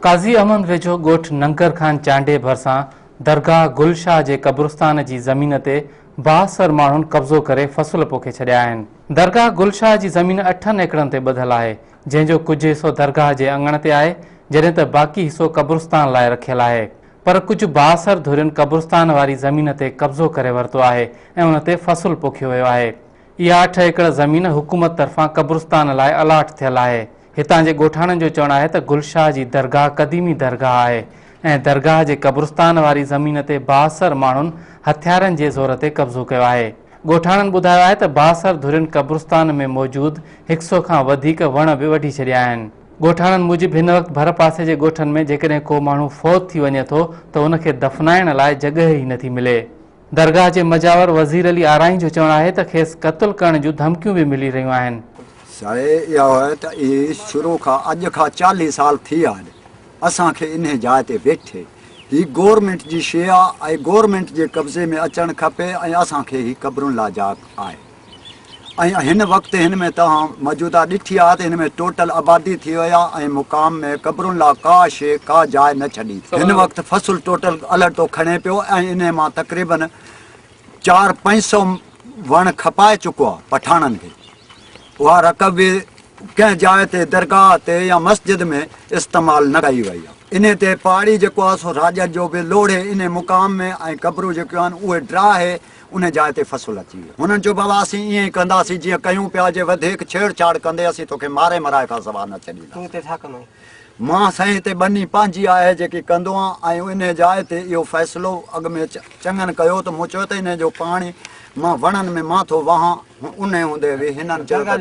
قاضي احمد ويجهو ڳوٺ ننگر خان چانڊيي ڀرسان درگاهه گل شاهه جي قبرستان جي زمين تي بااثر ماڻهن قبضو ڪري فصل پوکي ڇڏيا آهن. درگاهه گل شاهه جي زمين اٺن ايڪڙن تي ٻڌل آهي، جنهن جو ڪجهه حصو درگاهه جي اڱڻ تي آهي، جڏهن ته باقي حصو قبرستان لاء رکيل آهي. پر ڪجهه بااثر ڌرين قبرستان واري زمين تي قبضو ڪري ورتو آهي ۽ ان تي فصل پوکيو ويو آهي. اها اٺ ايڪڙ زمين حڪومت طرفان قبرستان لاء الاٽ ٿيل آهي. هتان جي ڳوٺاڻن جو چوڻ آهي ته گل شاهه جي درگاهه قديمي درگاهه آهي ۽ درگاهه جي قبرستان واري زمين تي بااثر ماڻهن هٿيارن جي زور تي قبضو ڪيو آهي. ڳوٺاڻن ٻڌايو آهي ته بااثر ڌرين قبرستان ۾ موجود هڪ سئو کان وڌيڪ وڻ به وڍي ڇڏيا آهن. ڳوٺاڻن موجب هن وقت ڀرپاسي جي ڳوٺن ۾ جيڪڏهن ڪو ماڻهو فوت ٿي وڃي ٿو ته ان کي دفنائڻ لاء جڳهه ئي نٿي ملي. درگاهه جي مجاور وزير علي آرائين جو چوڻ آهي ته کيس قتل ڪرڻ جون ڌمڪيون به ملي رهيون آهن. ساء اها آهي ته اهي شروع کان اڄ کان چاليهه سال ٿي ويا آهن اسان کي انهي جاء تي ويٺي. هي گورنمينٽ جي شيء آهي ۽ گورنمينٽ جي قبضي ۾ اچڻ کپي ۽ اسان کي هي قبرن لاء جاء آهي. ۽ هن وقت هن ۾ توهان موجوده ڏٺي آهي ته هن ۾ ٽوٽل آبادي ٿي وئي آهي ۽ مقام ۾ قبرن لا ڪا شيء ڪا جاء نه ڇڏي. هن وقت فصل ٽوٽل الهڙتو کڻي پيو ۽ انهي مان تقريبن چار پنج سو وڻ کپائي چڪو آهي پٺاڻن کي اها رقم به ڪنهن جاء تي درگاهه تي يا مسجد ۾ استعمال نه ڪئي وئي آهي. انهي تي پاڙي جيڪو آهي سو راڄن جو به لوڙهي انهي مقام ۾ ۽ قبرون جيڪيون آهن اهي ڊراهي. انهيء جاء تي فصل اچي ويو. هنن چيو، بابا، اسين ائين ئي ڪنداسين، جيئن ڪيون پيا، جي وڌيڪ ڇيڙ ڇاڙ ڪندين، اسين توکي ماري مرائي کان سواء نه ڇڏينداسين. تون هتي ڇا ڪندو آهين؟ مان سائين هتي ٻني پنهنجي آهي، جيڪي ڪندو آهيان ۽ انهيء جاء تي اهو فيصلو اڳ ۾ چڱن ڪيو ته مون چيو ته انهيء جو پاڻي مان وڻن ۾ مان ٿو وهان. انهيء هوندي به هنن چيو ته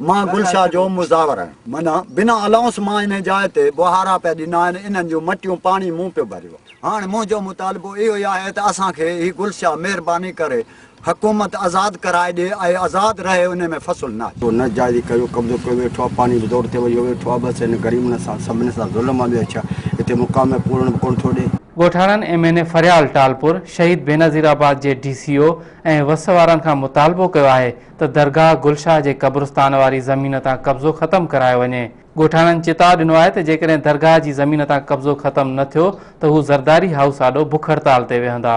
مان گل شاهه جو مزاور آهيان. معنيٰ، بنا الاؤنس مان انهيء جاء تي ٻهارا پيا ڏنا آهن، انهن جون مٽيون پاڻي مون پيو ڀريو آهي. هاڻ منهنجو مطالبو اهو ئي آهي ته اسان کي هي گلشا مهرباني ڪري حڪومت آزاد ڪرائي ڏي ۽ آزاد رهي ان ۾ فصل نه اچي. نه جائزي ڪيو قبضو ڪيو ويٺو آ پاڻي به دور تي ويو ويٺو آ بس هن غريبن سان سڀني سان ظلم آ ٻيو ڇا هتي مقام ۾ پورڻ به ڪونه ٿو ڏي. ڳوٺاڻن M N A Faryal Talpur Shaheed Benazir آباد جي ڊي سي او ۽ وس وارن کان مطالبو ڪيو آهي ته درگاهه گلشاه جي قبرستان واري زمين تان قبضو ختم ڪرايو وڃي، ڳوٺاڻن چتاء ڏنو آهي ته جيڪڏهن درگاهه جي زمين تان قبضو ختم نه ٿيو ته هو زرداري هائوس آڏو بک هڙتال تي ويهندا.